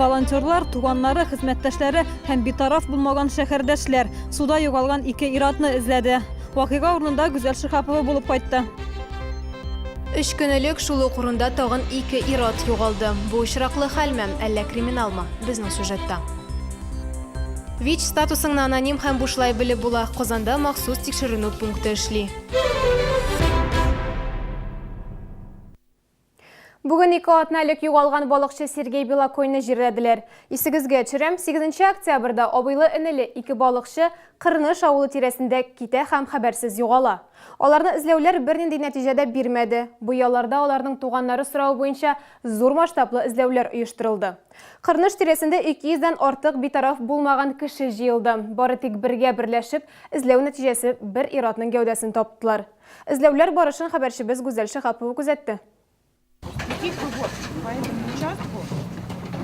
волонтерлар туганнары хезмәттәшләре һәм битараф булмаган шәһәрдәшләр суда югалган ике иратны эзләде вакыйга урынында гүзәл шихапова булып кайтты Үч көн элек шул ук урында тагын ике ират югалды. Бу очраклы хәлме, әллә криминалмы? Безнең сюжетта. ВИЧ статусыңны аноним һәм бушлай белеп була. Казанда махсус тикшеренү пункты эшли. Бүген ике атна элек югалган балыкчы Сергей Белокойны җирләделәр. Исегезгә төшерәм, 8 октябрьдә абыйлы-энеле ике балыкчы Кырныш авылы тирәсендә китә һәм хәбәрсез югала. Аларны эзләүләр бернинди нәтиҗә дә бирмәде. Бу ялларда аларның туганнары соравы буенча зур масштаблы эзләүләр оештырылды. Кырныш тирәсендә 200 дән артык битараф булмаган кеше җыелды. Бары тик бергә берләшеп эзләү нәтиҗәсе бер ир-атның гәүдәсен таптылар. Эзләүләр барышын хәбәрчебез Гүзәл Шиһапова күзәтте. Такие кругов, по этому участку,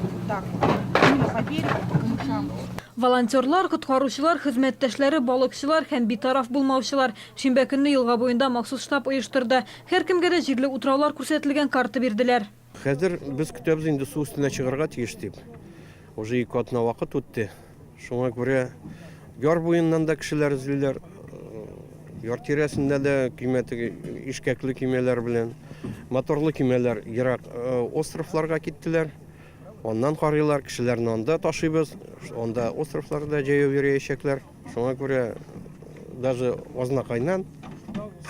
вот так вот, именно по берегу, по камышам. Волонтерлар, коткаручылар, хезмәттәшләре, балыкчылар һәм битараф булмаучылар шимбә көнне елга буенда махсус штаб оештырды. Һәркемгә дә җирле утраулар күрсәтелгән карта бирделәр. Хәзер без көтәбез инде су өстенә чыгарга тиеш дип. Уже ике атна вакыт үтте. Шуңа күрә яр буеннан да кешеләр эзлиләр. Яр тирәсендә дә көймә теге ишкәкле көймәләр белән моторлы көймәләр ерак э, островларга киттеләр. Аннан карыйлар, кешеләрне анда ташыйбыз. Анда островларда җәяү йөриячәкләр. Шуңа күрә даже азнакайнан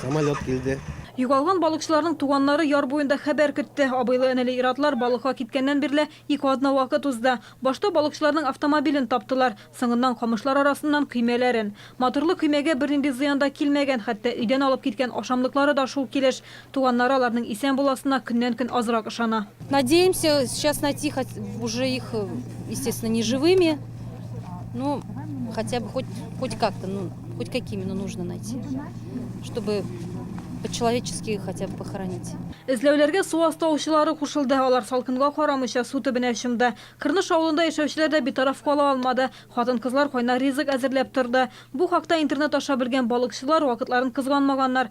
самолет килде. Югалган балыкчыларның туганнары яр буенда хәбәр көтте. Абыйлы-энеле ир-атлар балыкка киткәннән бирле ике атна вакыт узды. Башта балыкчыларның автомобилен таптылар, соңыннан камышлар арасыннан көймәләрен. Моторлы көймәгә бернинди зыян да килмәгән, хәтта өйдән алып киткән ашамлыклары да шул килеш. Туганнары аларның исән буласына көннән-көн азрак ышана. Надеемся, сейчас найти хоть уже их, э, естественно, не живыми, но хотя бы хоть, хоть как-то, ну, хоть какими, но нужно найти, чтобы по-человечески хотя бы похоронить. Эзләүләргә су асты аучылары кушылды. Алар салкынга карамыйча су төбенә чумды. Кырныш авылында яшәүчеләр дә битараф кала алмады. Хатын-кызлар кайнар ризык әзерләп торды. Бу хакта интернет аша белгән балыкчылар вакытларын кызганмаганнар.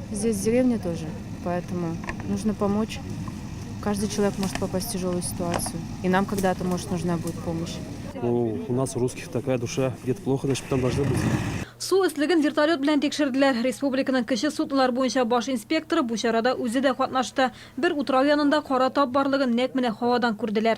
Здесь деревня тоже, поэтому нужно помочь. Каждый человек может попасть в тяжелую ситуацию. И нам когда-то, может, нужна будет помощь. Ну, у нас у русских такая душа. Где-то плохо, значит, там должны быть. Су өслеген вертолет белән тикшерделәр. Республиканың кече судлар буенча баш инспекторы бу чарада үзе дә катнашты. Бер утрау янында кара тап барлыгын нәкъ менә һавадан күрделәр.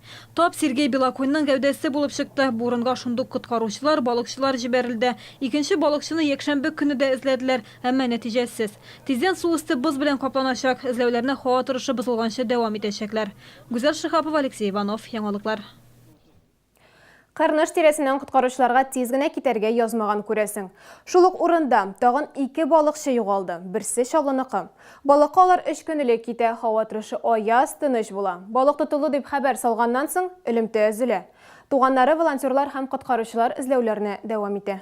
Тап Сергей Белоконьның гәүдәсе булып чыкты. Бу урынга шундук коткаручылар, балыкчылар җибәрелде. Икенче балыкчыны якшәмбе көне дә эзләделәр, әмма нәтиҗәсез. Тиздән су өсте боз белән капланачак, эзләүләрне һава торышы бозылганчы дәвам итәчәкләр. Гүзәл Шиһапова, Алексей Иванов. Яңалыклар. Кырныш тирәсеннән коткаручыларга тиз генә китәргә язмаган, күрәсең. Шул ук урында тагын ике балыкчы югалды, берсе Чаллыныкы. Балыкка алар өч көн элек китә, һава торышы аяз, тыныч була. Балык тотылды дип хәбәр салганнан соң, элемтә өзелә. Туганнары, волонтерлар һәм коткаручылар эзләүләрне дәвам итә.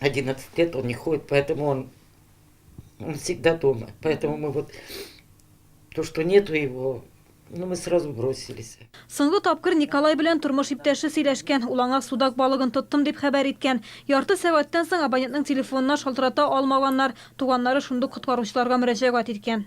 11 лет он не ходит, поэтому он, он всегда дома. Поэтому мы вот то, что нету его, ну, мы сразу бросились. Соңгы тапкыр Николай белән тормыш иптәше сөйләшкән. Ул аңа судак балыгын тоттым дип хәбәр иткән. Ярты сәгатьтән соң абонентның телефонына шалтырата алмаганнар. Туганнары шундук коткаручыларга мөрәҗәгать иткән.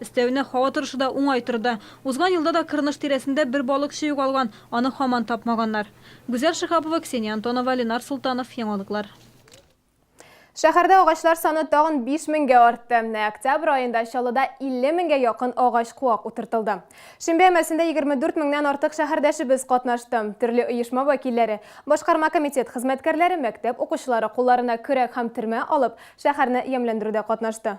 Өстәвенә, һава торышы да уңай торды. Узган елда да Кырныш тирәсендә бер балыкчы югалган, аны һаман тапмаганнар. Гүзәл Шиһапова, Ксения Антонова, Ленар Солтанов, Яңалыклар. Шәһәрдә агачлар саны тагын 5 меңгә артты. Менә октябрь аенда Чаллыда 50 меңгә якын агач куак утыртылды. Шимбә әмәсендә 24 меңнән артык шәһәрдәшебез катнашты. Төрле оешма вәкилләре, башкарма комитет хезмәткәрләре, мәктәп укучылары кулларына көрәк һәм термә алып, шәһәрне ямьләндерүдә катнашты.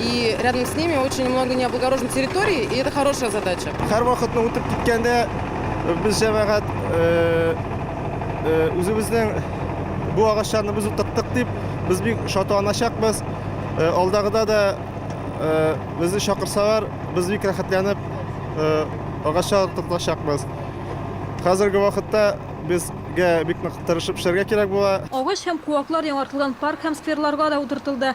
И рядом с ними очень много необлагороженной территории, и это хорошая задача. Һәр вакытны үтеп киткәндә э, без җәмәгать э, э, үзебезнең бу агачларны без утырттык дип без бик шатланачакбыз. Алдагыда да безне чакырсалар, без бик рәхәтләнеп агачлар утыртачакбыз. Хәзерге вакытта без бик нык тырышып эшләргә кирәк була. Агач һәм куаклар яңартылган парк һәм скверларга да утыртылды.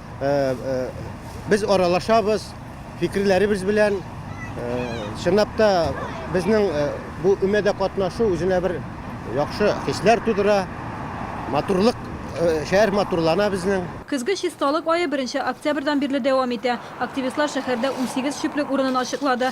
Без аралашабыз, фикерләребез белән чынлап та безнең бу өмәдә катнашу үзенә бер яхшы хисләр тудыра, матурлык, шәһәр матурлана безнең. Көзге чисталык ае беренче октябрьдан бирле дәвам итә. Активистлар шәһәрдә унсигез чүплек урынын ачыклады.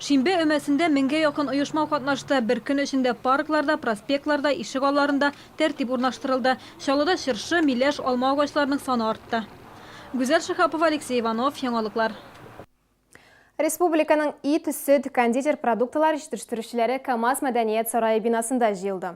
Шимбә өмәсендә меңгә якын оешма катнашты. Бер көн эчендә паркларда, проспектларда, ишек алларында тәртип урнаштырылды. Чаллыда чыршы, миләш, алма агачларының саны артты. Гүзәл Шиһапова, Алексей Иванов, Яңалыклар. Республиканың ит, сөт, кондитер продуктылар җитештерүчеләре КАМАЗ мәдәният сарае бинасында җыелды.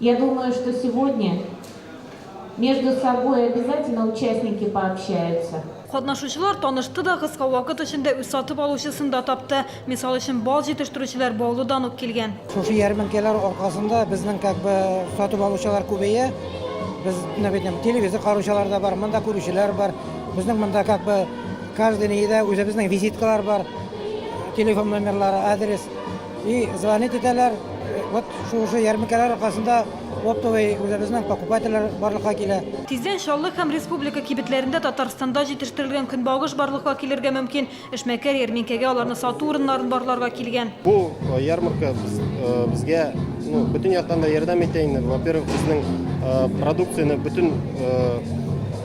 Я думаю, что сегодня между собой обязательно участники пообщаются. Катнашучылар танышты да, кыска вакыт эчендә үз сатып алучысын да тапты. Мисал өчен, бал җитештерүчеләр Баулыдан ук килгән. Шушы ярминкәләр аркасында безнең как бы сатып алучылар күбәя. Без, менә бит, телевизор караучылар да бар, монда күрүчеләр бар. Безнең монда как бы каждый неидә үзебезнең визиткалар бар, телефон номерлары, адрес. И звонить итәләр. Вот шушы ярминкәләр аркасында оптовый үзебезнең покупательләр барлыкка килә. Тиздән Чаллы һәм республика кибетләрендә Татарстанда җитештерелгән көнбагыш барлыкка килергә мөмкин. Эшмәкәр ярминкәгә аларны сату урыннарын барларга килгән. Бу ярмарка безгә бөтен яктан да ярдәм итә инде. Во-первых, безнең продукцияне бөтен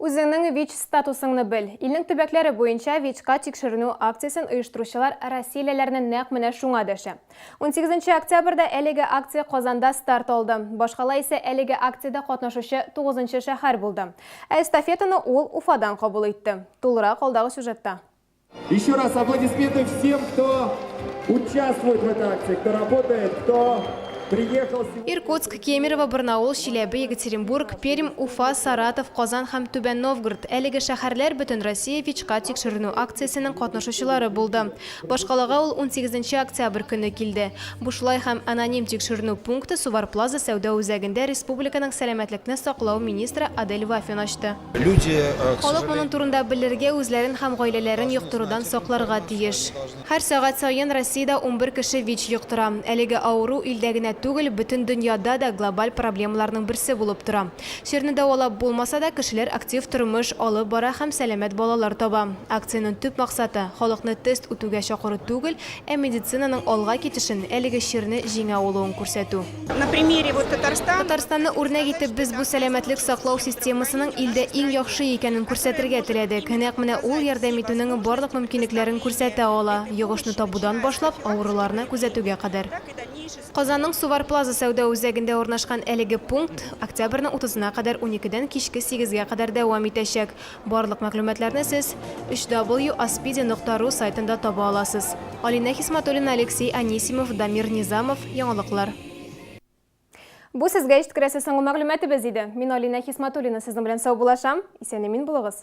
Үзеңнең ВИЧ-статусыңны бел! Илнең төбәкләре буенча ВИЧка тикшеренү акциясен оештыручылар россиялеләрне нәкъ менә шуңа дәшә. Унсигез нче октябрьдә әлеге акция Казанда старт алды. Башкала исә әлеге акциядә катнашучы тугызынчы шәһәр булды. Ә эстафетаны ул Уфадан кабул итте. Тулырак алдагы сюжетта. Еще раз аплодисменты всем, кто участвует в этой акции, кто работает, кто приехал. Иркутск, Кемерово, Барнаул, Чиләбе, Екатеринбург, Пермь, Уфа, Саратов, Казан һәм Түбән Новгород. Әлеге шәһәрләр бөтен Россия ВИЧка тикшеренү акциясенең катнашучылары булды. Башкалага ул 18 октябрь көне килде. Бушлай һәм аноним тикшеренү пункты Сувар Плаза сәүдә үзәгендә республиканың сәламәтлекне саклау министры Адель Вафин ачты. Халык моның турында белергә, үзләрен һәм гаиләләрен йоктырудан сакларга тиеш. Һәр сәгать саен Россиядә унбер кеше ВИЧ йоктыра. Әлеге авыру илдә генә түгел, бөтен дөньяда да глобаль проблемаларның берсе булып тора. Чирне дәвалап булмаса да, кешеләр актив тормыш алып бара һәм сәламәт балалар таба. Акциянең төп максаты, халыкны тест үтүгә чакыру түгел, Ә медицинаның алга китешен, әлеге чирне җиңә алуын күрсәтү. Татарстанны үрнәк итеп, без бу сәламәтлек саклау системасының илдә иң яхшы икәнен күрсәтергә теләдек. Нәкъ менә ул ярдәм итүнең барлык мөмкинлекләрен күрсәтә ала, йогышны табудан башлап, авыруларны күзәтүгә кадәр. Казанның Сувар Плаза сәүдә үзәгендә урнашкан әлеге пункт октябрьнең утызына кадәр уникедән кичке сигезгә кадәр дәвам итәчәк. Барлык мәгълүматларны сез www.aspidi нокта ру сайтында таба аласыз. Алинә Хисматуллина, Алексей Анисимов, Дамир Низамов, Яңалыклар. Бу сезгә ишткерәсе соңгы мәгълүматыбыз иде. Мин Алинә Хисматуллина сезнең белән саубулашам. Исән-имин булыгыз.